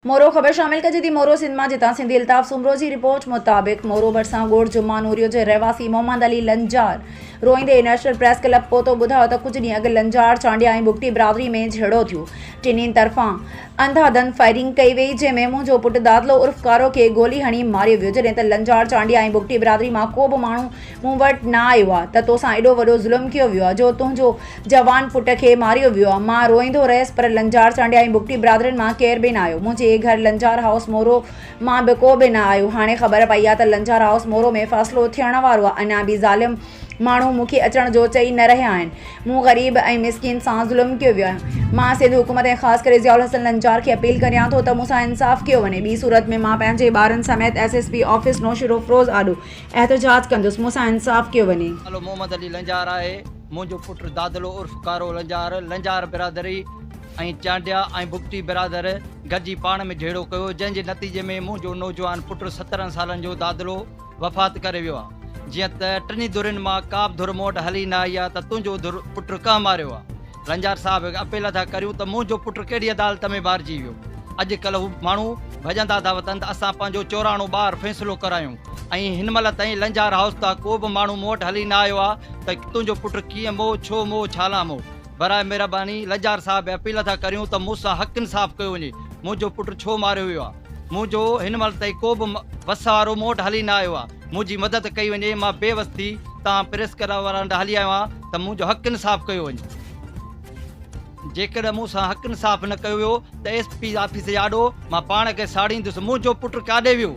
مورو، خبر شامل ڪجي ٿي مورو سنڌ مان جتان سنڌي الطاف سومرو جي رپورٽ مطابق مورو ڀرسان ڳوٺ جمعه نوريو جي رهواسي محمد علي لنجار روئيندي انٽرنيشنل پريس ڪلب پهتو ٻڌايو ته ڪجهه ڏينهن اڳ لنجار چانڊيا ۽ بگٽي برادري ۾ جهيڙو ٿيو ٽنهي طرفان انڌا ڌنڌ فائرنگ ڪئي وئي جنهن ۾ منهنجو پٽ دادلو عرف ڪارو کي گولي هڻي ماريو ويو جڏهن ته لنجار چانڊيا ۽ بگٽي برادري مان ڪو به ماڻهو مون وٽ نه آيو آ ته توسان ايڏو وڏو ظلم ڪيو ويو آ جو تنهنجو جوان پٽ کي ماريو ويو آ. مان روئيندو رهيس پر لنجار چانڊيا ۽ بگٽي برادرين مان ڪير به نه آيو. منهنجي گهر لنجار هائوس مورو مان به ڪو به نه آيو. هاڻي خبر پئي آ ته لنجار هائوس مورو ۾ فيصلو ٿيڻ وارو آ. اڃا به ظالم ماڻهو مون کي اچڻ جو چئي نه رهيا آهن. مون غريب ۽ مسڪين سان ظلم ڪيو ويو آ. مان سنڌ حڪومت ۽ خاص ڪري ضياء الحسن لنجار کي اپيل ڪريان ٿو ته مون سان انصاف ڪيو وڃي. ٻي صورت ۾ مان پنهنجي ٻارن سميت S S P office Naushahro Feroze آڏو احتجاج ڪندس، مون سان انصاف ڪيو وڃي. نالو محمد علي لنجار آهي، منهنجو پٽ دادلو عرف ڪارو لنجار، لنجار برادري ۽ چانڊيا ۽ بگٽي برادر گڏجي پاڻ ۾ جهيڙو ڪيو، جنهن جي نتيجي ۾ منهنجو نوجوان پٽ سترهن سالن جو دادلو وفات ڪري ويو آ، جيئن ته ٽنهي ڌرين مان ڪابه ڌر مون وٽ هلي نه آئي آ ته تنهنجو ڌر پٽ ڪنهن ماريو آ، لنجار صاحب هڪ اپيل ادا ڪريون ته منهنجو پٽ ڪهڙي عدالت ۾ ٻارجي ويو. اڄ ڪلهه هو ماڻهو ڀڄندا ٿا وتن ته اسان پنهنجو چوراڻو ٻار فيصلو ڪرايون ۽ هن مهل تائين لنجار هائوس تان ڪو به ماڻهو مون وٽ هلي نه آيو آهي ته تنهنجو پٽ ڪيئن مئو ڇو مئو ڇالاء مئو. براء مهرباني لنجار صاحب اپيل ادا ڪريون ته مون سان حق انصاف ڪيو وڃي منهنجو پٽ ڇو ماريو ويو آهي. مون جو هن مهل تائين ڪو به وس وارو مون وٽ هلي نه آيو آ منهنجي مدد ڪئي وڃي مان بي وس ٿي تان پريس ڪلب وارن وٽ هلي آيو آهيان ته منهنجو حق انصاف ڪيو وڃي جيڪڏهن مون سان حق انصاف نه ڪيو ويو ته ايس پي آفيس جي آڏو مان پاڻ کي ساڙيندس منهنجو پٽ ڪاڏي ويو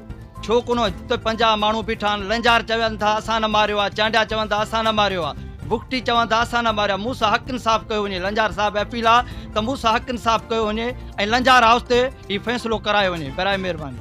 ڇو ڪونه هتي پنجاهه ماڻهو بيٺا آهن لنجار چون ٿا اسان نه ماريو آ چانڊيا چون ٿا اسان نه ماريو آ بگٽي چوان ته اسان نه ماريا موسا حق انصاف ڪيو وڃي لنجار صاحب اپيل آ ته موسا حق انصاف ڪيو وڃي ۽ لنجار هائوس تي هي فيصلو ڪرايو وڃي برائي مهرباني.